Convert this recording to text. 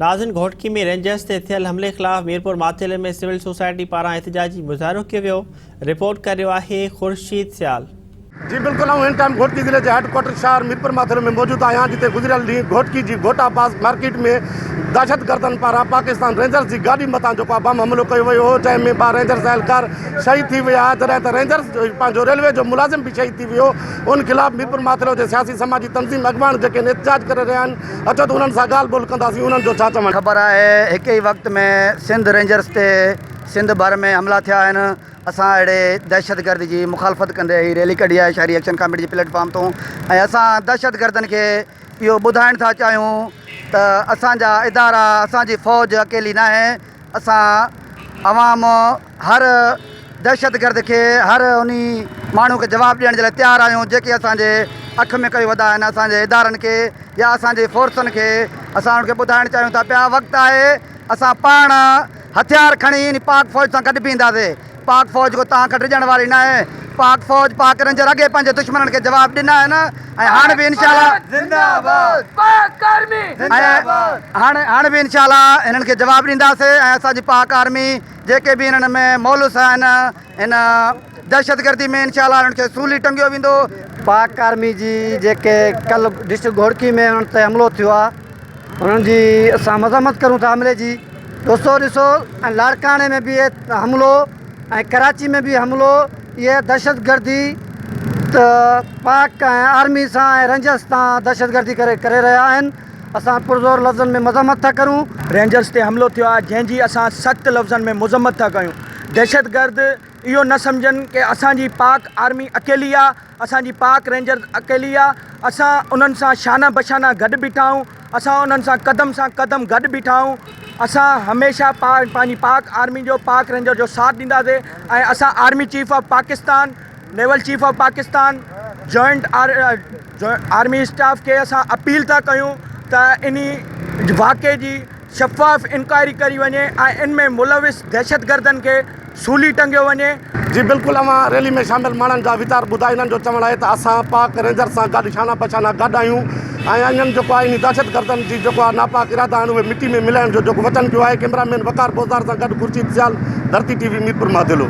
نازن Ghotki ۾ Rangers تي ٿيل حملي خلاف ميرپور ماٿيلي ۾ سول سوسائٽي پاران احتجاجي مظاهرو ڪيو ويو رپورٽ ڪري رهيو آهي خورشيد سيال. جي بلڪل آئون هن ٽائيم گهوٽڪي ضلعي جي هيڊ ڪوارٽر شهر ميرپور ماٿيلي ۾ موجود آهيان جتي گذريل ڏينهن گهوٽڪي جي گهوٽا پاس مارڪيٽ ۾ دهشتگردن پاران پاڪستان رينجرز جي گاڏي مٿان جيڪو آهي بم حملو ڪيو ويو هو جنهن ۾ ٻه رينجرز اهلڪار شهيد ٿي ويا جڏهن ته رينجرز جو پنهنجو ريلوي جو ملازم به شهيد ٿي ويو ان خلاف ميرپور ماٿيلو جي سياسي سماجي تنظيم اڳواڻ جيڪي هن احتجاج ڪري رهيا آهن اچو ته انهن سان ڳالهه ٻولهه ڪنداسين انهن جو ڇا چوڻ آهي. خبر آهي هڪ ئي وقت ۾ سنڌ رينجرز تي سنڌ ڀر ۾ حملا ٿيا آهن اسان اهڙي دهشتگردي جي مخالفت ڪندي هي ريلي ڪڍي آهي شهري ايڪشن ڪاميٽي جي پليٽ فارم تون ۽ اسان دهشتگردن کي اهو ٻڌائڻ ٿا چاهيون ته اسان جا ادارا اسان جي فوج اڪيلي ناهي اسان عوام هر دهشتگرد کي هر انهي ماڻهو کي جواب ڏيڻ جي لاء تيار آهيون جيڪي اسان جي اک ۾ ڪيو وڌا آهن اسان جي ادارن کي يا اسان جي فورسن کي اسان انهن کي ٻڌائڻ چاهيون ٿا پيا وقت آهي اسان پاڻ هٿيار کڻي انهي پاڪ فوج سان گڏ بيهنداسي پاڪ فوج ڪو تان کان ڊڄڻ واري ناهي پاڪ فوج پاڪ رينجر اڳي پنهنجي دشمنن کي جواب ڏنا آهن ۽ هاڻ به انشاء الله زنده آباد پاڪ آرمي زنده آباد هاڻ هاڻ به انشاء الله هنن کي جواب ڏينداسي ۽ اسان جي پاڪ آرمي جيڪي به انهن ۾ مولوث آهن ان دهشتگردي ۾ انشاء الله انهن کي سولي ٽنگيو ويندو. پاڪ آرمي جي جيڪي ڪل ڊسٽرڪٽ گهوڙڪي ۾ انهن تي حملو ٿيو آهي انهن جي اسان مذمت ڪريون ٿا حملي جي دوستو ڏسو ۽ لاڙڪاڻي ۾ به حملو ۽ ڪراچي ۾ به حملو اهي دهشتگردي ته پاڪ ۽ آرمي سان ۽ رينجرس سان دهشتگردي ڪري ڪري رهيا آهن اسان پرزور لفظن ۾ مذمت ٿا ڪريون، رينجرز تي حملو ٿيو آهي جنهن جي اسان سخت لفظن ۾ مذمت ٿا ڪيون، دهشتگرد اهو نه سمجهن ڪه اسان جي پاڪ آرمي اڪيلي آهي، اسان جي پاڪ رينجرز اڪيلي آهي، اسان انهن سان شانه بشانه گڏ بيٺا آهيون، اسان انهن سان قدم سان قدم گڏ بيٺا آهيون، اسان هميشه پنهنجي پاڪ آرمي جو پاڪ رينجرز جو ساٿ ڏينداسين ۽ اسان army chief of Pakistan. Naval chief of Pakistan joint army staff کي اسان اپيل ٿا ڪيون ته ان واقعي جي شفاف انڪوائري ڪري وڃي ۽ ان ۾ ملوث دهشتگردن کي سولي ٽنگيو وڃي. جي بلڪل اوهان ريلي ۾ شامل ماڻهن جا ويچار ٻڌا انهن جو چوڻ آهي ته اسان پاڪ رينجرز سان گڏ شانه بشانه گڏ آهيون ۽ انهن جيڪو آهي انهي دهشتگردن جي جيڪو آهي ناپاڪ ارادا آهن اهي مٽي ۾ ملائڻ جو جيڪو وچن ڪيو آهي ڪيمرا مين وقار پوزدار سان گڏ خورشيد سيال ڌرتي ٽي وي ميرپور ماڌيلو.